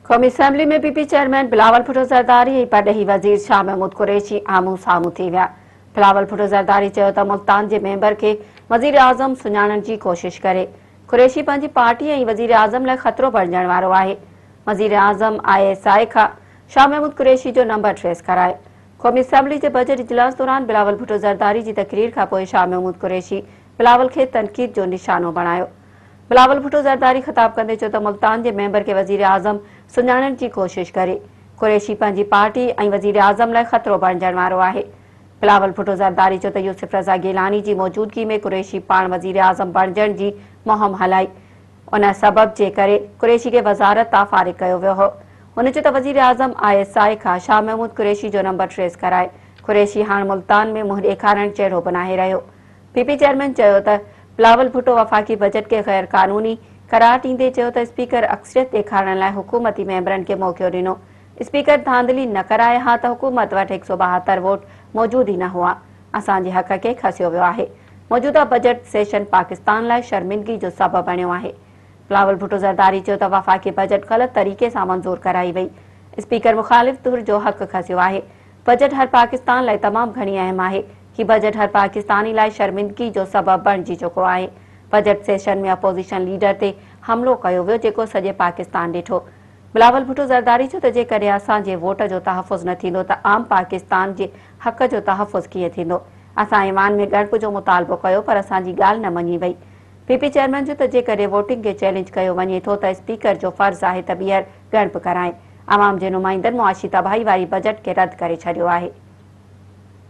قومي assembly ۾ P P chairman Bilawal Bhutto Zardari ۽ پرڏيهي وزير شاهه محمود قريشي آمهون سامهون ٿي ويا بلاول ڀٽو زرداري چيو ته ملتان جي ميمبر کي وزير اعظم سڃاڻڻ جي ڪوشش ڪري قريشي پنهنجي پارٽي ۽ وزير اعظم لاء خطرو بڻجڻ وارو آهي وزير اعظم آء ايس آء کان شاهه محمود قريشي جو نمبر ٽريس ڪرائي قومي اسيمبلي جي بجيٽ اجلاس دوران بلاول ڀٽو زرداري جي تقرير کانپوء شاهه محمود قريشي بلاول کي تنقيد جو نشانو بڻايو. بلاول ڀٽو زرداري خطاب ڪندي چيو ته ملتان جي ميمبر کي وزيراعظم سڃاڻڻ جي ڪوشش ڪري. قريشي پنهنجي پارٽي ۽ وزيراعظم لاء خطرو بڻجڻ وارو آهي. بلاول ڀٽو زرداري چيو ته يوسف رضا گيلاني جي موجودگي ۾ قريشي پاڻ وزيراعظم بڻجڻ جي مهم هلائي. ان سبب جي ڪري قريشي کي وزارت تان فارغ ڪيو ويو هو. هن چيو ته وزيراعظم آء ايس آء کان شاهه محمود قريشي جو نمبر ٽريس ڪرائي. قريشي هاڻ ملتان ۾ منهن ڏيکارڻ جهڙو به ناهي رهيو. پي پي چيئرمين چيو ته بلاول ڀٽو وفاقي بجيٽ کي غير قانوني قرار ڏيندي چيو ته اسپيڪر اڪثريت ڏيکارڻ لاء حڪومتي ميمبرن کي موقعو ڏنو، اسپيڪر ڌانڌلي نه ڪرائي ها ته حڪومت وٽ هڪ سؤ ٻاهتر ووٽ موجود ئي نه هئا، اسان جي حق کي کسيو ويو آهي، موجوده بجيٽ سيشن پاڪستان لاء شرمندگي جو سبب بڻيو آهي. بلاول ڀٽو زرداري چيو ته وفاقي بجيٽ غلط طريقي سان منظور ڪرائي وئي، اسپيڪر مخالف ڌر جو حق کسيو آهي، بجيٽ هر پاڪستان لاء تمام گهڻي اهم آهي، هي بجيٽ هر پاڪستاني لاء شرمندگي جو سبب بڻجي چڪو آهي، بجيٽ سيشن ۾ اپوزيشن ليڊر تي حملو ڪيو ويو جيڪو سڄي پاڪستان ڏٺو، بلاول ڀٽو زرداري چيو ته جيڪڏهن اسان جي ووٽ جو تحفظ نه ٿيندو ته عام پاڪستان جي حق جو تحفظ ڪيئن ٿيندو، اسان ايوان ۾ ڳڻپ جو مطالبو ڪيو پر اسان جي ڳالهه نه مڃي وئي، پي پي چيئرمين چيو ته جيڪڏهن ووٽنگ کي چئلينج ڪيو وڃي ٿو ته اسپيڪر جو فرض آهي ته ٻيهر ڳڻپ ڪرائين. عوام جي نمائندن معاشي تباهي واري بجيٽ کي رد ڪري ڇڏيو آهي.